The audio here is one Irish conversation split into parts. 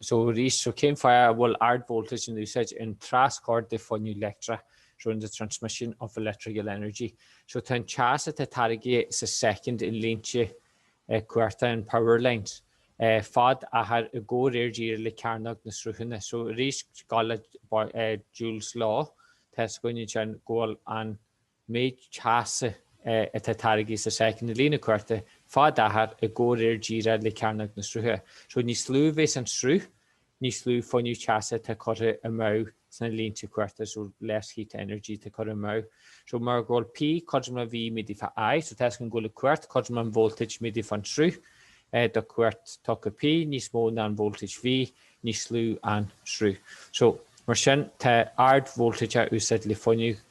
So arís, so cén fáth a bhfuil ard voltage in úsáid ar an traschur de fuinneamh leictreach, so in the transmission of electrical energy. So tá an teas atá táirgithe sa soicind i línte cumhachta, in power lines, fad-achair i gcomhréir díreach le cearnóg na srutha. So arís, goil le Joule's law, tá a fhios againn anseo go bhfuil an. méid teasa atá táirgthe sa soicind i línte cumhachta fad-achair i gcomhréir díreach le cearnóg na srutha. So, níos lú a bhéas an sruth, níos lú fuinneamh teasa atá curtha amú sna línte cumhachta, so less heat energy atá curtha amú. So, mar go bhfuil P cothrom le V méadaithe fá I, so toisc go bhfuil cumhacht cothrom leis an voltage méadaithe fán sruth, do cumhacht tugtha P níos mó an voltage V, níos lú an sruth. So, mar sin, tá ard voltage á úsáid le fuinneamh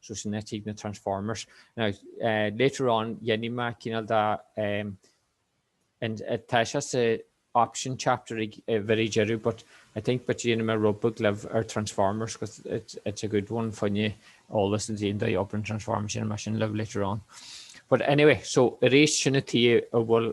so sin a dtig na Transformers. Now later on dhéanfaidh mé cineál de, anois tá sé sa option chapter ag very deireadh but I think but dhéanfaidh mé rud beag libh ar Transformers cos it's a good one fá choinne eolas ansin do obair na Transformers dhéanfaidh mé sin libh later on but anyway so arís sin tuige a bhfuil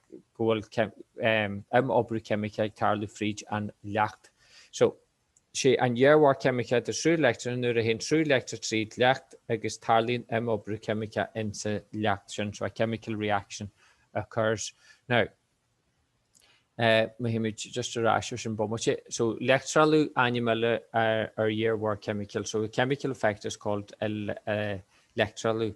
go bhfuil imoibriú ceimice ag tarlú fríd an leacht so. Sé an iarmhairt cheimiceach de sruth leictreach ná nuair a théann sruth leictreach tríd leacht agus tarlaíonn imoibriú ceimiceach insa leacht sin so a chemical reaction occurs. Now, rachaimid just ar ais ar sin bomaite. So leictrealú ainm eile ar iarmhairt chemical so the chemical effect is called leictrealú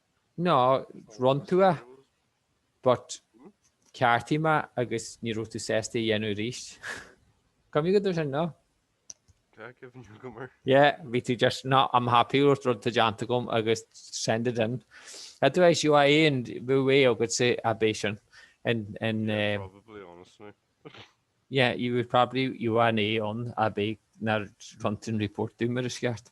No, rinn tú é, but cheartaigh mé agus ní raibh tú sásta é a dhéanamh arís. Cuimhne agat air sin, no? Tá cuimhne agam air. Yeah, bhí tú just, no, I'm happy, rud atá déanta agam agus send it in. Otherwise, you, A a bheadh agatsa ach ab é sin. And, and, yeah, um, probably, honestly. yeah, you would probably, you are an A ach ab é nár rinn tú an report dó mar is ceart.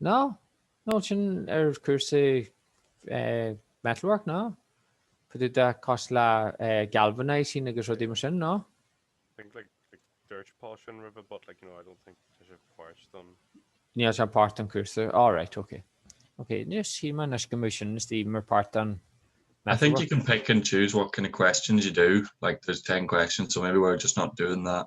No, no, sin ar chúrsaí metalwork, no? Cad é, cosúil le galvanising agus rudaí mar sin, no? I think like, like dúirt Paul sin roimhe, but like, you know, I don't think tá sé páirt don... Níl sé páirt don cúrsa, all right, ok. Ok, shíl mé anois go mbeadh sin istigh mar páirt don... I think you can pick and choose what kind of questions you do, like there's ten questions, so maybe we're just not doing that.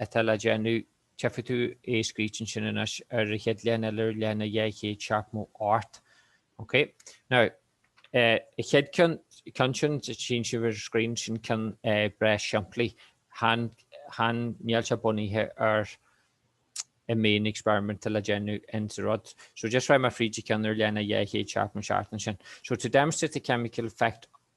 atá le déanamh, tífidh tú é scríofa ansin anois ar a chéad leathanach eile ar leathanach 274. OK? Now, eh, a chéad ceann, ceann sin, tíonn sibh ar an screen, sin ceann eh breá simplí, chan, chan fhuil sé bunaithe ar a main experiment atá le déanamh in sa rud. So just rachaidh mé fríd an ceann ar leathanach 276 ansin. So to demonstrate the chemical effect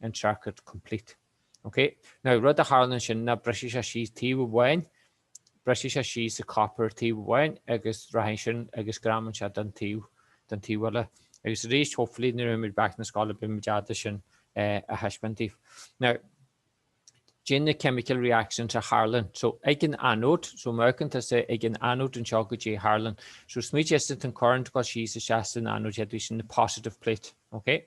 an circuit complete. OK? Now, rud a tharlann ansin ná brisfidh sé síos taobh amháin, brisfidh sé síos an copper taobh amháin agus rachaidh sin agus greamaíonn sé don taobh, don taobh eile. Agus arís, hopefully, nuair a théimid back na scoile beidh muid ábalta sin a thaispeáint daoibh. Now, caidé na chemical reactions a tharlann. So, ag an anóid, so má fheiceann tusa ag an anóid anseo caidé a tharlann. So, smaoitigh as an current dul síos isteach san anóid, d'fhéadfadh sin na positive plate. OK?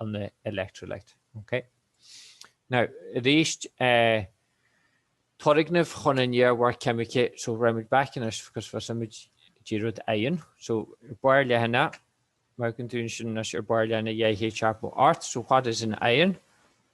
an electrolyte. Ok. Now, arís, eh, turgnaimh chun an iarmhairt cheimiceach, so rachaidh muid back anois because thosaigh muid ag dí rud éigin. So, ar bharr leathanach, má amharcann tú ansin anois, ar bharr leathanach dhá chéad a seacht mall ort, so what is an ion?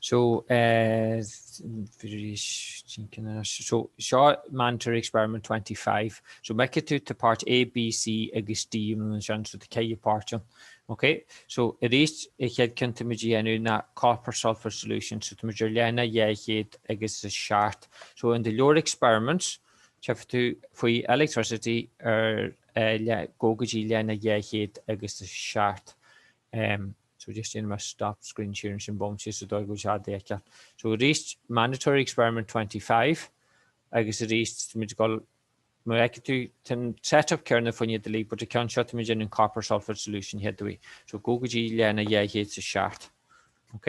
So, so, seo Mandatory Experiment 25. So, mar a fheicfidh tú tá páirt A, B, C agus D ann ansin, so tá ceithre pháirt ann. Ok, so, arís an chéad cheann atá muid a dhéanamh ná copper sulphate solution, so tá muid ar leathanach dhá chéad agus a seacht. So, in do leabhar experiments, tchífidh tú faoi electricity ar uh, le, gabh go dtí leathanach dhá chéad agus a seacht. Um, So just déanfaidh mé stop screen sharing ansin bomaite sa dóigh go bhfuil sé le feiceáil. So arís mandatory experiment twenty five agus arís táimid ag dul mar a fheicfidh tú tá an set up céanna fá choinne iad uilig but an ceann seo táimid ag déanamh copper sulphate solution an chéad uair. So gabh go dtí leathanach dhá chéad is a seacht. Ok.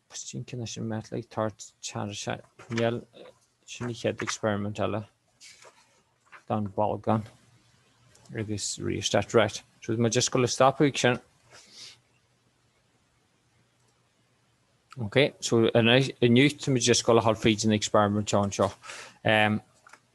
Is cinnte anois an mbeadh ag tabhairt tearra sé ngeal sin an chéad experiment eile don bholgán agus rheostat right. So muid just ag gabháil a stopadh ansin. Ok, so inniu muid just ag gabháil a ghabháil fríd an experiment anseo. Um,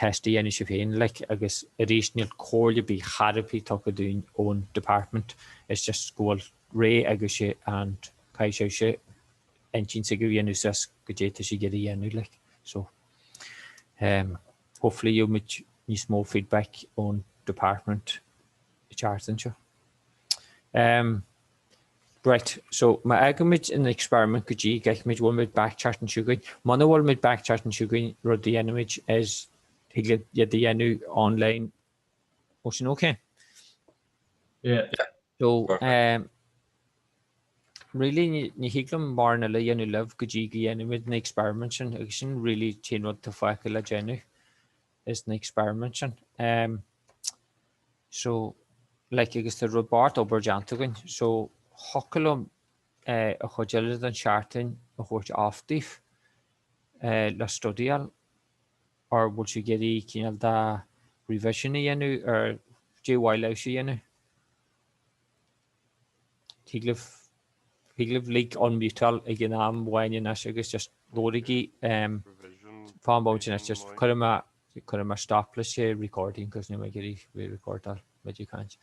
teist a dhéanamh sibh féin, like, agus arís níl comhairle ar bith chor ar bith tugtha dúinn ón department, it's just go bhfuil rogha agaibhse and caithfidh sibhse intinn s'agaibh a dhéanamh suas caidé atá sibh ag iarraidh a dhéanamh, like, so ehm hopefully gheobhaimid níos mó feedback ón department an tseachtain seo. Ehm. Raight, so má fhágaimid an experiment go dtí go bhfeicimid an bhfuil muid back an tseachtain seo chugainn, muna bhfuil muid back an tseachtain seo chugainn, rud a dhéanaimid is thig linn iad a dhéanamh online ó sin, ok? Yeah. So, um, really ní thig liom mórán eile a dhéanamh libh go dtí go ndéanaimid na experiment sin agus sin really an t-aon rud atá fágtha le déanamh. is na experiments sin ehm so like agus tá rud barr d'obair déanta againn so thiocfadh liom eh an chuid eile den tseachtain a thabhairt off daoibh eh le studyáil or bhfuil sibh ag iarraidh cineál de revision a dhéanamh or caidé ba mhaith libhse a dhéanamh? Thig libh, thig libh léim beirt agaibh ag an am amháin anois agus just labhraígí faoin bit atá anois just cuirfidh mé, cuirfidh mé stop leis an recording cos níl mé ag iarraidh a bheith ag recordáil mé ag caint.